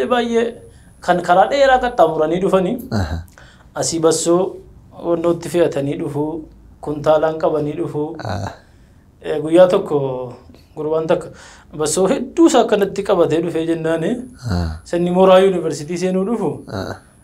baay'ee kan karaa dheeraa qaxxaamuranii dhufanii asii bassoo wannootti fe'atanii dhufuu kuntaalaan qabanii dhufuu Eh, guyyaa tokko gurbaan takka bassoo hedduusaa akkanatti qabatee dhufee jennaani sanni mooraa yuunivarsiitii seenuu dhufu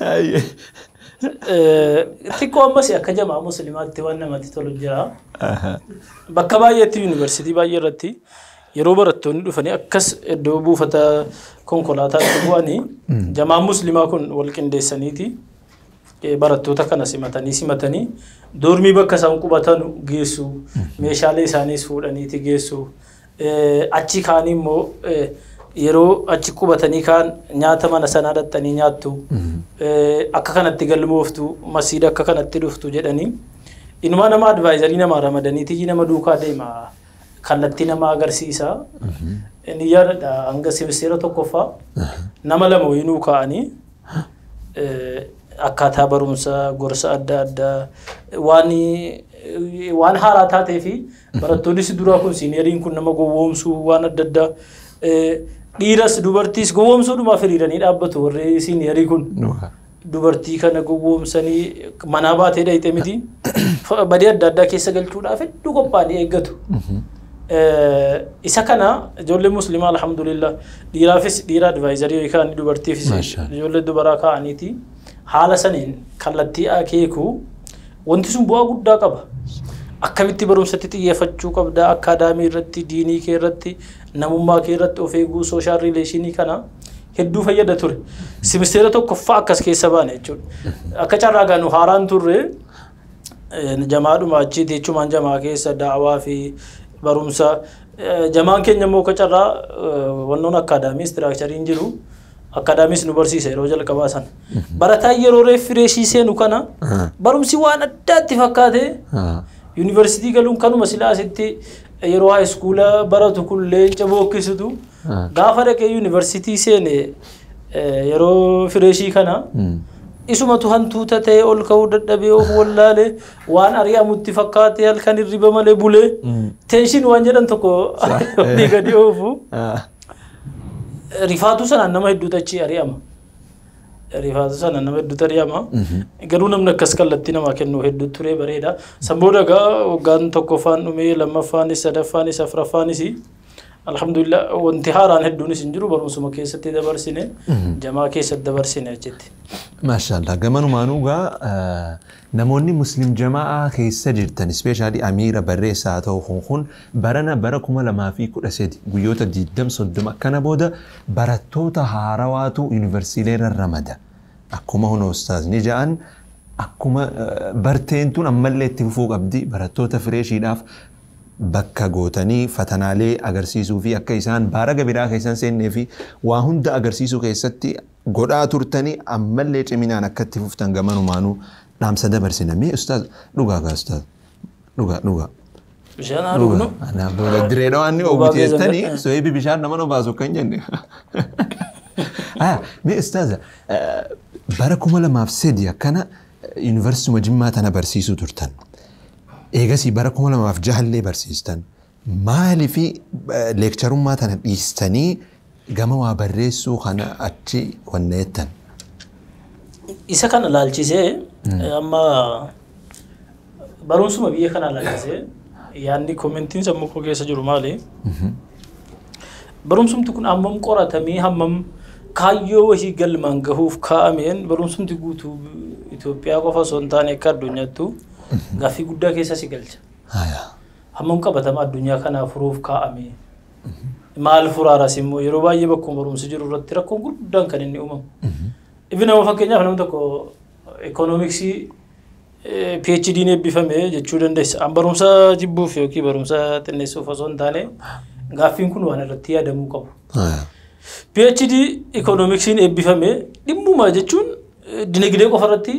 Ayyee. Eh, Xiqqoo ammas akka jamaa muslimaatti waan namatti tolu jira. Aha. Bakka baay'eetti yuunivarsiitii baay'ee irratti yeroo barattoonni dhufanii akkas iddoo buufata konkolaataa itti bu'anii jamaan muslimaa kun wal qindeessaniiti barattoota kana simatanii simatanii doormii bakka isaan qubatan geessu meeshaalee isaaniis fuudhaniiti geessu achi kaanii immoo yeroo achi qubatanii kaan nyaata mana sanaa dhaxxanii nyaattu akka kanatti galmooftu masiida akka kanatti dhuftu jedhanii inumaa nama advaayizarii namaa ramadaniitii nama duukaa deema kallattii nama agarsiisa ni yaadadha hanga simisteera tokkoffaa nama lama wayinuu kaa'anii akkaataa barumsa gorsa adda addaa waan waan haaraa taatee fi barattoonnis duraa kun siiniyeeriin kun nama gowwoomsuu waan adda addaa dhiiras dubartiis gowwoomsuudhumaaf hiriiranii dhaabbatu warri siiniyeerii kun. dubartii kana gowwoomsanii manaa baatee dhayxe miti badii adda addaa keessa galchuudhaaf hedduu qophaa'anii eeggatu. isa kana ijoollee muslimaa alhamdulillah dhiiraafis dhiira advaayizarii yookaan Masha dubartiifis Allah. ijoollee dubaraa kaa'aniiti haala saniin kallattii akeeku wanti sun bu'aa guddaa qaba. Akkamitti barumsatti xiyyeeffachuu qabda akkaadaamii irratti diinii kee irratti namummaa kee irratti of eeguu sooshaal riileeshinii kana hedduu fayyada ture. Simisteera tokkoffaa akkas keessa baane jechuudha. Akka carraa gaanu haaraan turre jamaadhuma achiiti jechumaan jamaa keessa daawaa fi barumsa jamaan keenya immoo akka carraa wannoon akkaadaamii istiraakchariin jiru akkaadaamiis nu barsiisa yeroo jalqabaa sana. Barataa yeroo reeffi reeshii seenu kana barumsi waan addaatti fakkaate yuunivarsiitii galuun kanuma silaasitti yeroo haayiskuula baratu kun leenca bookkisutu gaafa dhaqee yuunivarsiitii seene Eh, yeroo fireeshii kana isumatu hantuuta ta'ee ol ka'uu dadhabee of wallaale waan ari'amutti fakkaatee halkan hirriba malee bulee teenshin waan jedhan tokko olii gadi oofu rifaatuu sanaan nama hedduutu achi ari'ama. Rifaatuu sanaan nama hedduutu ari'ama. Garuu namni akkas kallattii namaa kennu hedduu ture bareeda. San booda egaa waggaan tokkoffaan dhumee lammaffaanis sadaffaanis afraffaanis Alhamdulillah wanti haaraan hedduunis hin jiru barumsuma keessatti dabarsine jamaa keessatti dabarsine achitti. Maashaallah gamanumaan ugaa namoonni muslim jama'aa keessa jirtan ispeeshaalii amiira barreessaa haa ta'u kun kun barana bara kuma lamaa fi kudha sadi guyyoota diigdam soddoma akkana booda barattoota haarawaatu yuunivarsiilee irra ramada. Akkuma huna ustaazni ja'an akkuma barteen tun ammallee itti fufuu qabdi barattoota fireeshiidhaaf bakka gootanii fatanaalee agarsiisuu fi akka isaan baaraga biraa keessa hin seennee fi waa hunda agarsiisuu keessatti godhaa turtanii ammallee ciminaan akka itti fuftan gamanumaanuu dhaamsa dabarsina. Mee ustaaz dhugaa gaa ustaaz dhugaa dhugaa. Bishaan haa dhugnu. Anaaf booda diree dhawaan ni Dhugaa oguti keessan jettanii ga'a. soeebi bishaan nama nu baasu kan jenne. Ah, Mee ustaaza eh, bara kuma lamaaf sadi akkana yuunivarsiituma jimmaa tana barsiisuu turtan. Eegasii bara 2006 illee barsiistan. Maaliif leekcharummaa tana dhiistanii gama waa barreessuu kana achi wanna jettan? Isa kana laalchisee amma barumsuma biyya kanaa laalchisee yaadni komentiin sammuu koo keessa jiru maali? Barumsumti kun hammam qoratamee hammam kaayyoo wahii galmaan gahuuf kaa'ameen barumsumti guutuu Itoophiyaa qofa osoo hin taane akka addunyaattuu Gaaffii guddaa keessa si galcha. Haya. Hammam qabatama addunyaa kanaa furuuf kaa'ame? Maal furaaras immoo yeroo baay'ee bakkuma barumsi jiru irratti rakkoon guddaan kan inni uumamu. Ifi nama fakkeenyaaf namni tokko ikoonomiksii PHD'n eebbifame jechuu dandeessa. An barumsa jibbuuf yookiin barumsa xinneessuuf osoo hin taane gaaffiin kun waan irratti yaadamuu qabu. Haya. PHD ikoonomiksiin eebbifame dhimmuma jechuun dinagdee qofa irratti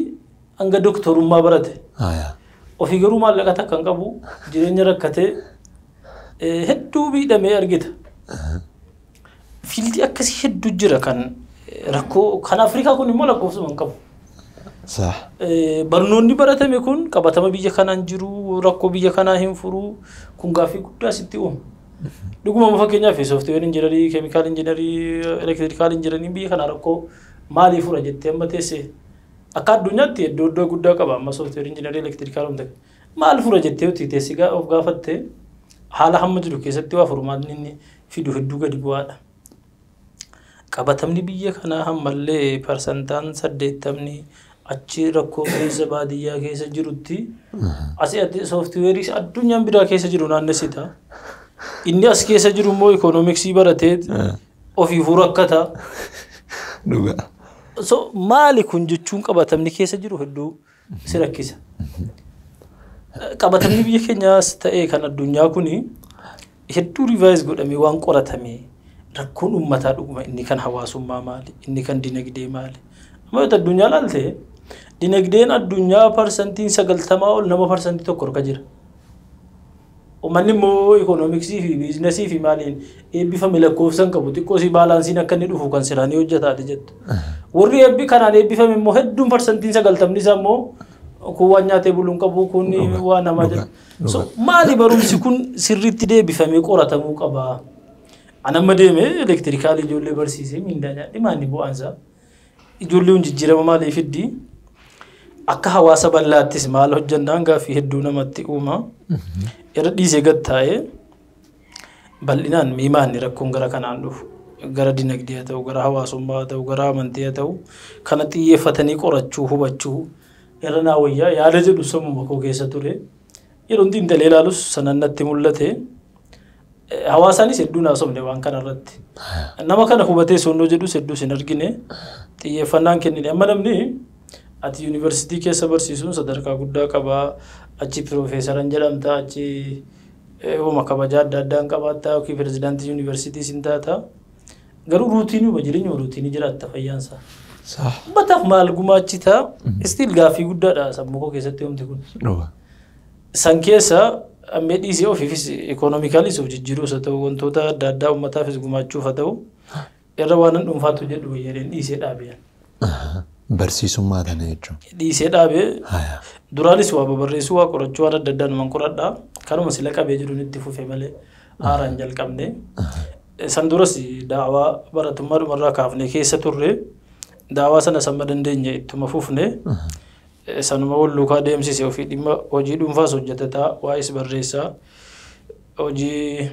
Hanga doktorummaa barate. Aya. Ofii garuu maallaqa takka hin qabu. Jireenya rakkatee eh, hedduu miidhamee argita. Fiildii akkasii hedduu jira kan eh, rakkoo kan Afrikaa kun immoo lakkoofsuma hin qabu. Sah. Eh, barnoonni baratame kun qabatama biyya kanaan jiru rakkoo biyya kanaa hin furu kun gaaffii guddaa sitti uuma. Dhuguma fakkeenyaaf sooftiweer injinarii, keemikaal injinarii, elektirikaal injinarii biyya kanaa rakkoo maalii fura jettee amma teessee Akka addunyaatti iddoo iddoo guddaa qaba amma software engineering electrical omtech maal fura jettee uti teessi gaa of gaafatte haala hamma jiru keessatti waa furmaatni inni fidu hedduu gadi bu'aadha. Qabatamni biyya kanaa hammallee parsantaan saddeettamni achi rakkoo keessa baadiyyaa keessa jirutti asi ati sooftiweerii addunyaan biraa keessa jiru naannessita. Inni as keessa jiru immoo ikoonomiksii baratee ofiifuu rakkata. Dhugaa. So maali kun jechuun qabatamni keessa jiru hedduu si rakkisa. Qabatamni biyya keenyaas ta'ee kan addunyaa kun hedduu rivaayiz godhamee waan qoratamee rakkoon uummataa dhuguma inni kan hawaasummaa maali inni kan dinagdee maali. Amma yoo addunyaa laalte dinagdeen addunyaa parsantiin sagaltamaa ol nama parsantii tokko harka jira. Ummanni immoo economics fi business fi maaliin eebbifame lakkoofsa hin qabu. Xiqqoo sii baalaansiin akka inni dhufu kan silaa ni hojjeta ati jettu. Warri eebbi kanaan eebbifame immoo hedduun parsantiin sagaltamni isaa immoo kun waan nyaatee buluu hin qabu kun Dhuga, waan namaa dhuga, jedhu. So dhuga. maali barumsi kun sirriitti deebifamee qoratamuu qaba. An amma deeme elektirikaalii ijoollee barsiisee miindaa nyaadhe maanni bu'aan isaa. Ijoolleen jijjiirama maalii fiddi? Akka hawaasa bal'aattis maal hojjannaan gaaffii hedduu namatti uuma. Irra dhiisee gad taa'ee bal'inaan miimaanni rakkoon gara kanaan dhufu gara dinagdee haa ta'u, gara hawaasummaa haa ta'u, gara amantii haa ta'u kana xiyyeeffatanii qorachuu, hubachuu irra naa wayyaa yaada jedhu sammuma koo keessa ture. Yeroo xiinxalee ilaalus sanaan natti mul'ate. Hawaasaanis hedduun haasofne waan kana irratti. Nama kana hubatee soonnoo jedhus hedduus hin argine. Xiyyeeffannaan kennine. Amma namni ati yuunivarsiitii keessa barsiisuun sadarkaa guddaa qaba. Achi piroofeesaran jedhamta. Achi homa kabajaa adda addaan qabaatta yookiin pirezidaantii yuunivarsiitiis hin taata. Garuu ruutiinuma jireenya ruutiinii jiraatta fayyaansa. Ummataaf maal gumaachita? Istiil gaaffii guddaadha sammuu koo keessatti wanti kun. San keessa mee dhiisii ofiifis ikoonomikaalis of jijjiiruus haa ta'u wantoota adda addaa uummataafis gumaachuuf haa ta'u irra waanan dhuunfaatu jedhu wayyaneen dhiisee dhaabeen. Barsiisummaa kana jechuun. Dhiisee dhaabee Haya. duraanis waa babarreessuu waa qorachuu waan adda addaa numan qoradha kanuma sila qabee jiruun itti fufe malee haaraan jalqabne san duras daawaa baratummaa dhumarraa kaafne keessa turre daawaa sana samma dandeenye ittuma fufne sanuma wal duukaa deemsisi ofii dhimma hojii dhuunfaas hojjatataa waa'ees barreessaa hojii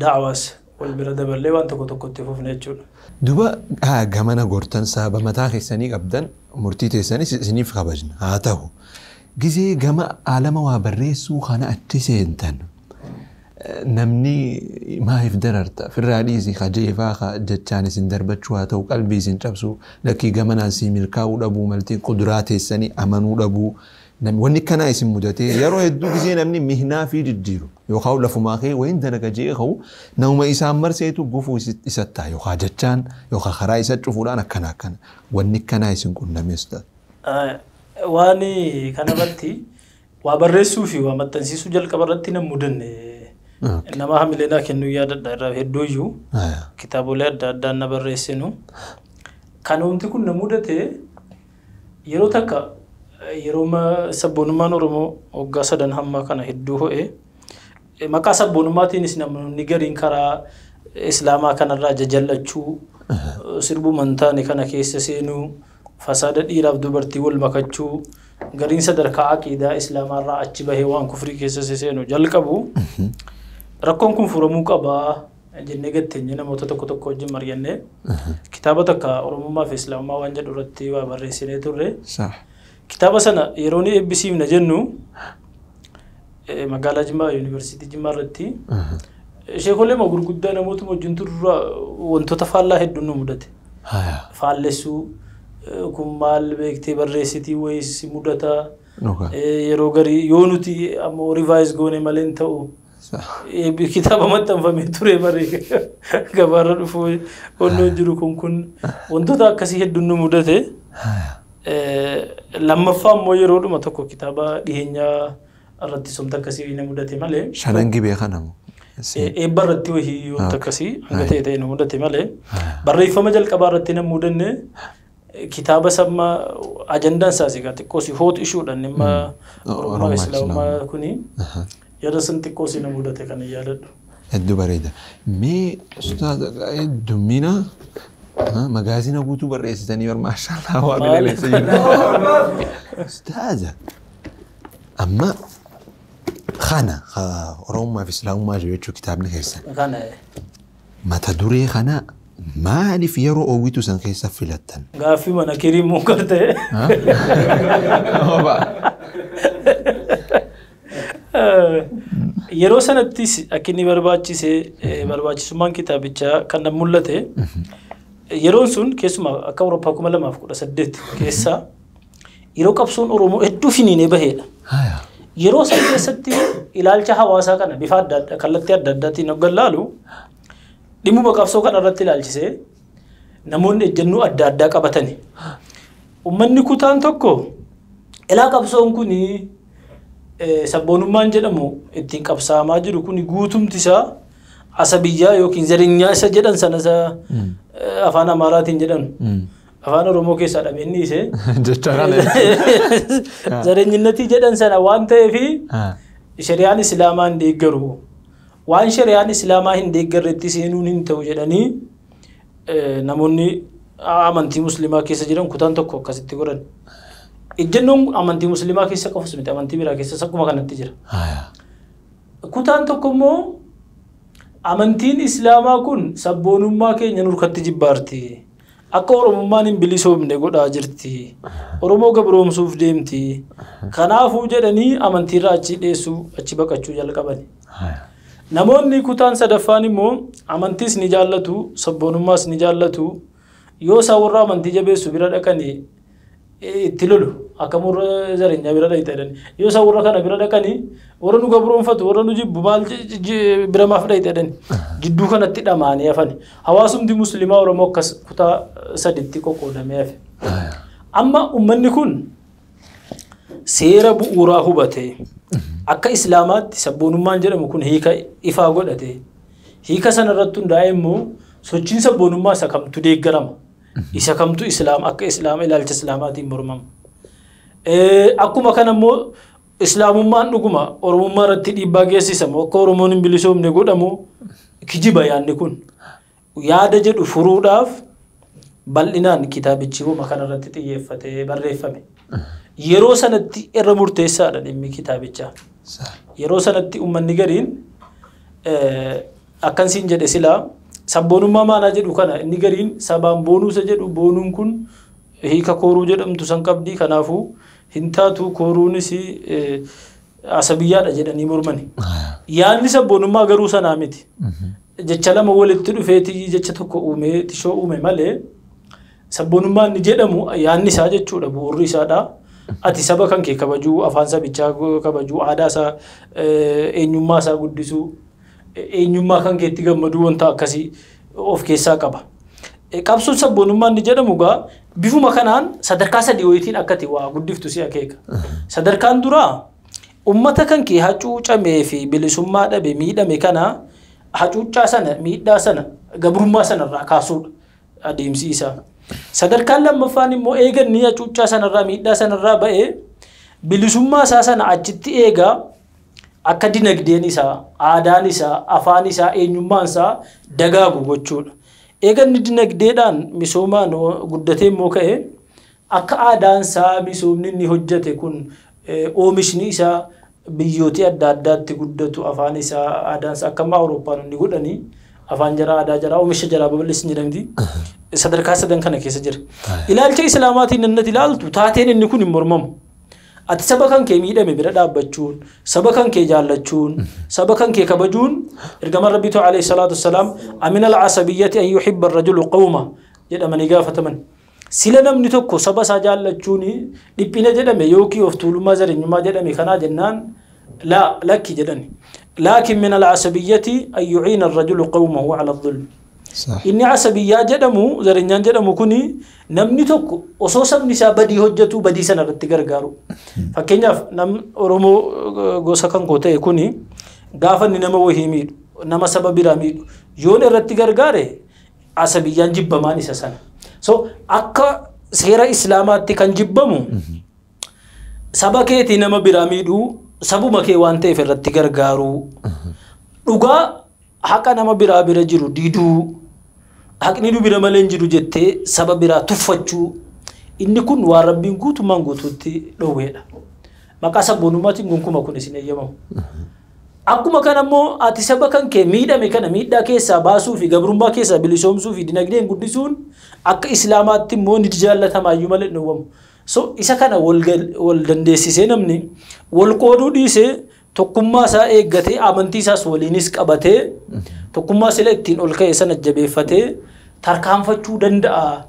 da'awaas wal bira daballee waan tokko tokko itti fufne jechuudha. Duba haa gamana gortan sababa mataa keessanii qabdan murtii teessanis isiniif kabajna haa tahu gizee gama aalama waa barreessuu kana itti seentan Namnii maa if dararta firraa dhiisi ka jeefaa ka jachaan isin darbachuu haa ta'u qalbii isin cabsuu lakkii gamanaan sii milkaa'uu dhabuu maltii quduraa teessanii amanuu dhabuu Namni wanni kanaa isin mudatee yaroo hedduu gizee namni mihnaa fii jijjiiru yookaa lafumaa kee wayin dalaga je'ee ka'u namuma isaan marseetu gufuu isatti ta'a yookaa jachaan yookaa karaa isatti cufuudhaan akkana akkana wanni kanaa isin qunnamee ustaaz. Waan kana maltii Waa barreessuu fi waa maxxansiisuu jalqaba irratti nan mudanne. Okay. Nama hamilee naa kennuu yaadadha irraa hedduuyyuu Aya. kitaabolee adda addaan na barreessinu. Kan homti kun na mudate yeroo takka eh, yeroo ma- sabboonummaan Oromoo waggaa sadan hamma kana hedduu ho'e eh, maqaa sabboonummaatiin namoonni gariin karaa islaamaa kanarraa jajallachuu eh, sirbuma hin taane kana keessa seenuu Fasaada dhiiraaf dubartii wal makachuu, gariin sadarkaa aqiidaa islaamaa irraa achi bahee waan kufrii keessa seseenu jalqabu. Rakkoon kun furamuu qaba jennee gad teenyee namoota tokko tokko wajjin mari'annee kitaaba takka Oromummaa fi Islaamummaa waan jedhu irratti waa barreessinee turre. Kitaaba sana yeroo ni eebbisiifna jennu eh, magaalaa Jimmaa yuunivarsiitii Jimmaa irratti sheekolee ma gurguddaa namootuma wajjin turra wantoota faallaa hedduun nu mudate. Haya. Faallessuu eh, kun maal beektee barreessitii wayis si mudata. Dhugaa. Eh, Yeroo garii yoo nuti ammoo rivaayiz goone malee hin ta'u. Sa- Eh, Kitaaba maxxanfamee ture malee gabaarra dhufuu wannoon jiru kun kun wantoota akkasii hedduun nu mudate. Haya. Lammaffaa immoo yeroodhuma tokko kitaaba dhiheenya irratti somta akkasii na mudate malee. Shanan gibee kana moo? Eebba irratti wayii wanta akkasii hanga ta'e ta'e na mudate malee. Barreeffama jalqabaa irratti na mudanne kitaaba samma ajandaan isaas egaa xiqqoo si hootu ishuudhaan dhimma Oromoo Islaamummaa kuni. Yada sin xiqqoo si na mudate kanan yaadadhu. Heddu bareeda. Mee ustaaza heddummina magaazina guutuu barreessitanii bar maashaallah waa bileleessa jirtu. Ustaaza amma kana ka Oromummaa fi Islaamummaa jiru jechuu kitaabni keessan. Kana Mata duree kana maaliif yeroo oowwitu san keessa filattan? gaaffii mana kirii munkar ta'e. Oba. Yeroo sanattis akka inni barbaachise barbaachisummaan kitaabichaa kan na mul'ate yeroon sun keessumaa akka Awurooppaa kuma lamaaf kudha saddeet keessa yeroo qabsoon Oromoo hedduu finiinee baheedha. Yeroo san keessatti ilaalcha hawaasaa kana bifa adda addaa kallattii adda addaatiin hoggan laalu dhimmuma qabsoo kana irratti ilaalchisee namoonni ejjennoo adda addaa qabatani. Ummanni kutaan tokko ilaa qabsoon kun sabboonummaan jedhamu ittiin qabsaamaa jiru kun guutumti isaa asa biyyaa yookiin zerinyaa isa jedhan sana isa afaan amaaraatiin jedhan afaan oromoo keessaa dhabeen dhiise Jecha kana zerinyinnati jedhan sana waan ta'eefi shari'aan islaamaan deeggaru Waan shariyaan Islaamaa hin deeggarretti seenuun hin ta'u jedhanii namoonni amantii musliimaa keessa jiran kutaan tokko akkasitti godhan. Ejjennoon amantii musliimaa keessa qofas miti amantii biraa keessas akkuma kanatti jira. Haya. Kutaan tokko immoo amantiin Islaamaa kun sabboonummaa keenya nurkatti jibbaarti. Akka Oromummaan hin bilisoomne godhaa jirti. Oromoo gabroomsuuf deemti. Kanaafuu jedhanii amantiirraa achi dheessuu achi baqachuu jalqabani. Haya. Namoonni kutaan sadaffaan immoo amantiis ni jaallatu, sabboonummaas ni jaallatu. Yoo isaan warra amantii jabeessu bira dhaqanii eh, itti lolu akkam warra zareenyaa bira dhaqxa jedhani. Yoo isaan warra kana bira dhaqanii warra nu gabroonfatu, warra nu jibbu maal je- je- je- bira maaf dhaqxa jedhani. Jidduu kanatti dhamaanii hafani. Hawaasumti musliimaa Oromoo akkas kutaa eh, saditti qoqqoodamee hafe. Haya. Amma ummanni kun seera bu'uuraa hubate akka islaamaatti sabboonummaan jedhamu kun hiika ifaa godhate hiika sana irratti hundaa'ee immoo sochiin sabboonummaa isa kamtu deeggarama isa kamtu islaam akka islaama ilaalcha islaamaatiin mormama Eh, akkuma kana immoo islaamummaan dhuguma oromummaa irratti dhiibbaa geessisa moo akka oromoon hin bilisoomne godhamu kijiba yaanni kun Yaada jedhu furuudhaaf bal'inaan kitaabichi woma kanarratti xiyyeeffatee barreeffame. Yeroo sanatti irra murteessaadha dhimmi kitaabichaa. Yeroo sanatti ummanni gariin akkan siin jedhe silaa sabboonummaa maanaa jedhu kana inni gariin sabaan boonuusa jedhu boonuun kun hiika kooruu jedhamtu san qabdi kanaafuu hin taatu kooruunis asabiyyaadha jedhanii mormani. Yaadni sabboonummaa garuu sanaa miti. Jecha lama walitti dhufeeti jecha tokko uumee tishoo uume malee sabboonummaa inni jedhamu yaadni isaa jechuudha bu'uurri isaadha. Ati saba kan kee kabajuu, afaan sabichaa kabajuu, aadaa isaa, eh, eenyummaa isaa guddisuu, eenyummaa kan keetti gammaduu wanta akkasii of keessaa qaba. Qabsuun sabboonummaa inni jedhamu egaa bifuma kanaan sadarkaa sadii wayitiin akkati waa guddiftu si akeeka. Sadarkaan duraa ummata kan kee hacuucamee fi bilisummaa dhabe miidhame kana hacuuccaa sana miidhaa sana gabrummaa sana irraa kaasuudha adeemsi isaa. Sadarkaan lammaffaan immoo eeganni hacuuccaa sana irraa miidhaa sana irraa ba'ee bilisummaa isaa sana achitti eegaa akka dinagdeen isaa, aadaan isaa, afaan isaa, eenyummaan isaa dagaagu gochuudha. Eega inni dinagdeedhaan misoomaan guddatee immoo ka'e akka aadaan isaa misoomni inni hojjate kun oomishni isaa biyyootii adda addaatti guddatu afaan isaa aadaan isaa akka ammaa Awurooppaan inni godhanii afaan jaraa aadaa jaraa oomisha jaraa babal'isni jedhamti. Sadarkaa sadan kana keessa jira. Ilaalcha Islaamaatiin innati ilaaltu taateen inni kun hin mormamu. Ati saba kan kee miidhame bira dhaabbachuun, saba kan kee jaallachuun, saba kan kee kabajuun ergamaan Rabbiitu alayhi salaatu wassalaam amina al-asabiyyati an yuhibba ar-rajulu qawma jedhamanii gaafataman. Sila namni tokko saba isaa jaallachuun dhiphina jedhame yookiin of tuulummaa zareenyummaa jedhame kanaa jennaan laa lakki jedhani. Laakin min al-asabiyyati an yu'iina ar-rajulu qawmahu ala adh-dhulmi. Sah. Inni Asabiyyaa jedhamu, Zarenyaan jedhamu kuni namni tokko osoo sabni isaa badii hojjetuu badii sana irratti gargaaruu. Fakkeenyaaf namni Oromoo eh, gosa kan koo ta'e kuni gaafa inni nama wahii miidhu, nama saba biraa miidhu, yoon irratti gargaare Asabiyyaan jibbamaan isa sana. So akka seera Islaamaatti kan jibbamu saba keetii nama biraa miidhuu sabuma kee waan ta'eef irratti gargaaruu dhugaa Haqa nama biraa bira jiru diduu, haqni nu bira malee hin jiru jettee saba biraa tuffachuu, inni kun waan Rabbiin guutummaan guutuutti dhoowweedha. Maqaa sabboonummaatiin gonkuma kun isin eeyyamamu. Akkuma kana immoo ati saba kan kee miidhame kana miidhaa keessaa baasuu fi gabrummaa keessaa bilisoomsuu fi dinagdeen guddisuun akka Islaamaatti immoo ni jaallatamaa iyyuu malee hin dhoowwamu. So isa kana wal dandeessisee namni wal qooduu dhiisee Tokkummaa isaa eeggatee, amantii isaas waliinis qabatee, tokkummaa sila ittiin ol ka'e sana jabeeffatee tarkaanfachuu danda'a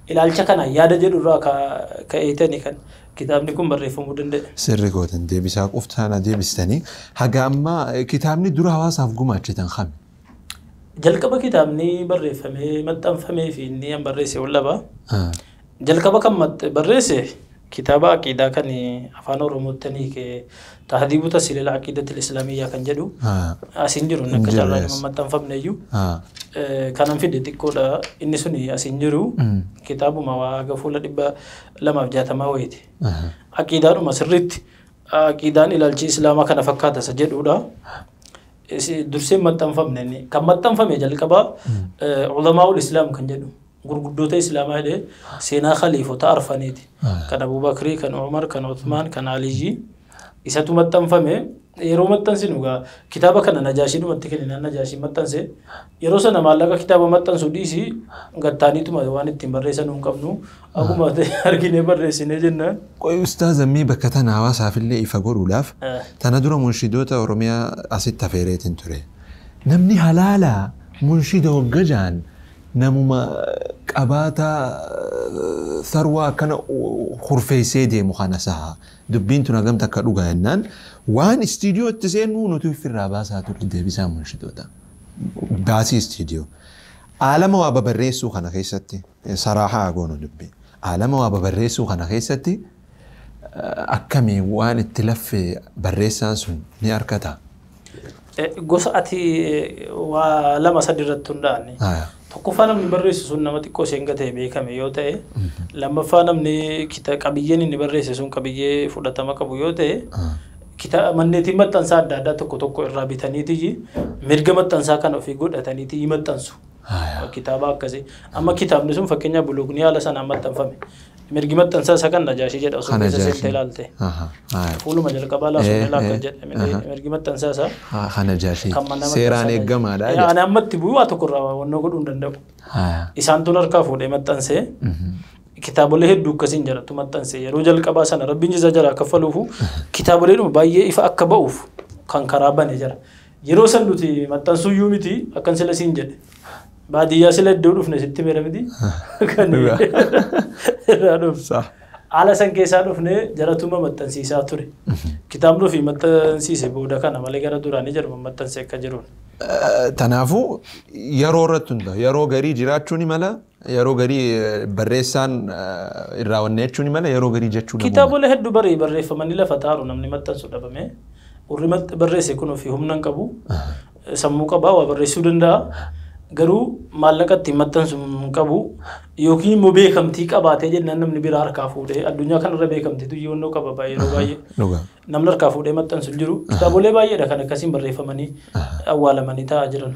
ilaalcha kanaan yaada jedhu irraa ka- ka'eetani kan kitaabni kun barreeffamuu danda'e. Sirri gootan deebisaa qoftaan adeebistanii haga ammaa eh, kitaabni dura hawaasaaf gumaachitan kami? Jalqaba kitaabni barreeffamee maxxanfamee fi inni an barreesse wallaba. Jalqaba kan maxx- barreesse kitaaba aqiidaa kan afaan oromootti ani hiike tahdiibu tasiilil aqiidatil islaamiyyaa kan jedhu asiin jiru inni akka carraa hin maxxanfamne iyyuu Eh, kanan fide xiqqoodha inni sun asiin jiru kitaabuma waa haga fuula dhibba lamaaf jaatamaa wayiiti. Aqiidaadhuma sirriitti aqiidaan ilaalchi islaamaa kana fakkaata isa jedhuudha. si- dursee hin maxxanfamne inni. Kan maxxanfame jalqaba eh, ulamaa'ul islaam kan jedhu gurguddoota islaamaa jedhee seenaa khaliifota arfaniiti. Kan Abubakrii, kan Umar, kan Uthmaan, kan Aliyyii isatu maxxanfame yeroo maxxansinu egaa kitaaba kana najaashiidhumatti kenninaan najaashiin maxxanse Yeroo sana maallaqa kitaaba maxxansu dhiisi gad taaniituma waan ittiin barreessan hin qabnu. Akkuma arginee barreessinee jenna. Qoy ustaaza mee bakka tana hawaasaafillee ifa godhuudhaaf tana dura munshidoota Oromiyaa asitti afeereetiin ture. Namni halaala munshida hogga ja'an namuma qabaata tharwaa akkana hurfeessee deemu kana saha? Dubbiin tun hagam takka dhugaa jennaan waan istiidiyootti seennuu nutu iffirraa baasaa turre deebisaa munshidootaa. Baasii istiidiyoo. Aalama waa babarreessuu kana keessatti saraahaa haa goonu dubbii. Aalama waa babarreessuu kana keessatti akkamii waan itti laffe barreessaan sun ni argata? Gosa ati waa lama sadi irratti hundaa'anii. Tokkoffaa namni barreesse sun nama xiqqoo seenga ta'e beekame yoo ta'e, lammaffaa namni kita qabiyyeen inni barreesse sun qabiyyee fudhatama qabu yoo ta'e, kita manneetiin maxxansaa adda addaa tokko tokko irraa bitaniitiyyi mirga maxxansaa kan ofii godhataniitiyyi maxxansu. Haya. Kitaaba akkasii. Amma kitaabni sun fakkeenyaaf buloognii haala sanaan maxxanfame. Mirgi maxxansaa isa kan Najaashii jedha osoo Kana keessa seentee jaashin. ilaalte. Aha. Haa. Fuuluma jalqabaa laa Eh, sunnilaa eh, akka jedhe miti aha. mirgi maxxansaa isaa Haa, Kana jaashii. kan mana Seeraan maxxansaa eeggamaadha. Eh, jedha. Ani ammatti bu'uu waa tokko irraa wannoo godhuu hin danda'u. Haa. Isaan tun harkaa fuudhee maxxansee Mhm. kitaabolee hedduu akkasiin jedhatu maxxanse yeroo jalqabaa sana rabbiin jizaa jara akka faluufu kitaaboleedhuma baay'ee ifa akka ba'uuf kan karaa bane jira Yeroo san nuti maxxansuyyuu miti akkan sila siin jedhe. Baadiyyaa sila iddoo dhufne sitti himera miti. Kan Dhugaa. irraa dhufne. Saah. Haala san keessaa dhufne jaratuma maxxansiisaa ture. Kitaabni ofii maxxansiise booda kana malee gara duraanii jaruma maxxanse akka jiruun. Eh, Tanaafuu yeroo irratti hundaa'e yeroo garii jiraachuu ni mala Yeroo garii barreessaan irraa wannee jechuu ni mala yeroo garii jechuu dhabuu mala. Kitaabolee heddu bari barreeffamanii lafa taaru namni maxxansu dhabame. Warri max barreesse kun ofii humna hin qabu. Sammuu qaba waa barreessuu danda'a. Garuu maallaqa ittiin maxxansu hin qabu. Yookiin immoo beekamtii qabaatee jennaan namni biraa harkaa fuudhee addunyaa kanarra beekamtiitu jiwannoo qaba baay'ee yeroo baay'ee. Dhugaa. Namni harkaa fuudhee maxxansu hin jiru. Kitaabolee baay'eedha kan akkasiin barreeffamanii awwaalamanii taa'aa jiran.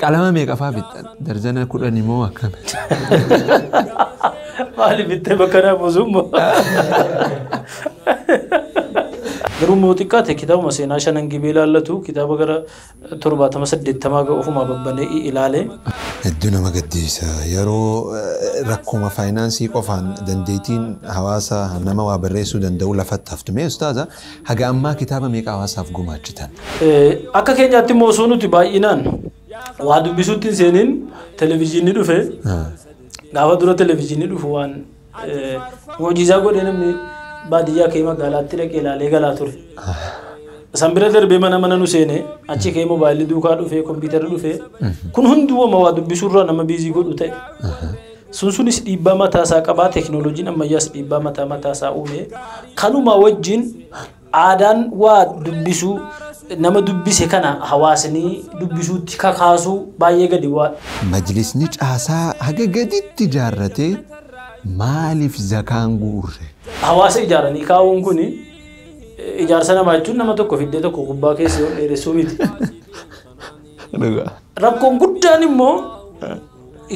Qalama meeqa fa'aa bittan? Darzana kudhani moo akkami? Maali bittee bakka naa buusummo. Garuu immoo xiqqaate kitaabuma seenaa shanan gibee ilaallatu kitaaba gara torbaatama saddeettamaa ga'a ofumaa babbanee ilaale. Hedduu nama gaddisiisa. Yeroo rakkuma faayinaansii qofaan dandeettiin hawaasa nama waa barreessuu danda'u lafatti haftu. Mee ustaaza Haga ammaa kitaaba meeqa hawaasaaf gumaachitan? Akka keenyaatti immoo osoo nuti baay'inaan waa dubbisuutti hin seeniin televezyiinni dhufe. Gaafa dura televezyiinni dhufu waan mucizaa godhee namni baadiyyaa kee magaalaatti dhaqee ilaalee galaa ture. San bira darbee mana mana nu seene achi kee mobaayilli duukaa dhufee kompiitarri dhufee kun hundi uuma waa dubbisuurraa nama biizii godhu ta'e. Sun sunis dhiibbaa mataa isaa qaba. Teeknooloojiin ammayyaas dhiibbaa mataa mataa isaa uume. Kanuma wajjin aadaan waa dubbisuu nama dubbise kana hawaasni dubbisuutti kakaasuu baay'ee gadi bu'aadha. Majlisni caasaa haga gaditti ijaarratee maaliif zakaa hin guurre? Hawaasa ijaaranii kaa'uun kun ijaarsa namaa jechuun nama tokko fiddee tokko gubbaa keessa yoo dheeressuu miti. Dhugaa. Rakkoon guddaan immoo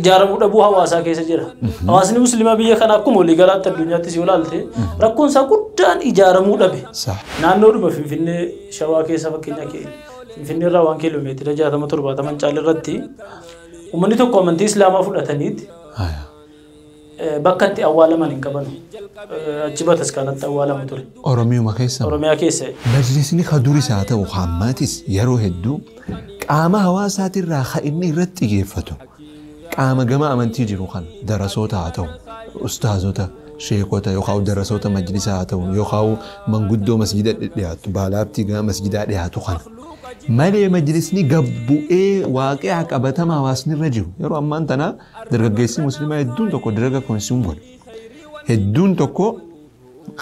ijaaramuu dhabuu hawaasaa keessa jira. Hawaasni musliimaa biyya kana akkuma waliigalaatti addunyaattis yoo ilaalte rakkoon isaa guddaan ijaaramuu dhabe. Sax. Naannoodhuma Finfinnee Shawaa keessa fakkeenyaa kee Finfinnee irraa waan kiiloomeetira jaatama torbaataman caalu irratti uummanni tokko amantii Islaamaa fudhataniiti Haya. Bakka itti awwaalaman hin qabanu. Achi bataskaanatti awwaalamu ture. Oromiyuma keessa moo? Oromiyaa keessa. Majlisni ka duris haa ta'u ka ammaatis yeroo hedduu qaama hawaasaati irraa ka inni irratti xiyeeffatu qaama gama amantii jiru kan darasoota haa ta'u, ustaazota, sheekota yookaan darasoota majlisaa haa ta'u yookaan manguddoo masjida dhiyaatu baalaabtii gama masjidaa dhiyaatu kana. Malee majlisni gabbu'ee waaqia qabatama hawaasni irra jiru yeroo ammaan tanaa dargaggeessi muslimaa hedduun tokko diraga konsuum godha. Hedduun tokko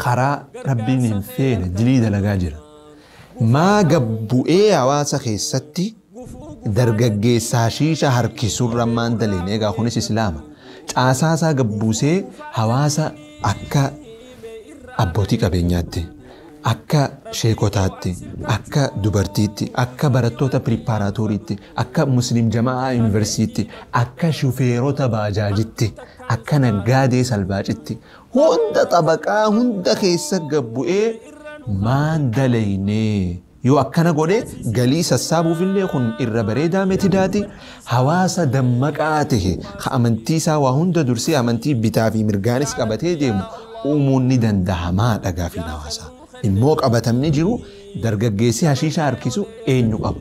karaa rabbiin hin feene dilii dalagaa jira. Maa gabbu'ee hawaasa keessatti dargaggeessa hashiisha harkisurra maan daleen egaa kunis islaama. Caasaasaa gabbuusee hawaasa akka abbootii qabeenyaatti akka sheekotaatti akka dubartiitti akka barattoota piripaaraatooriitti akka Muslim Jama'aa Yuunivarsiitti, akka shufeerota baajaajitti, akka naggaadee salbaacitti, hunda xabaqaa hunda keessa gad bu'ee maan dalaynee yoo akkana godhe galii sassaabuufillee kun irra bareedaa metidaati hawaasa dammaqaa ta'e ka amantii isaa waa hunda dursee amantii bitaa fi mirgaanis qabatee deemu uumuun ni danda'amaa dhagaafiin hawaasaa. Immoo qabatamni jiru dargaggeessi hashiishaa harkisu eenyu qaba?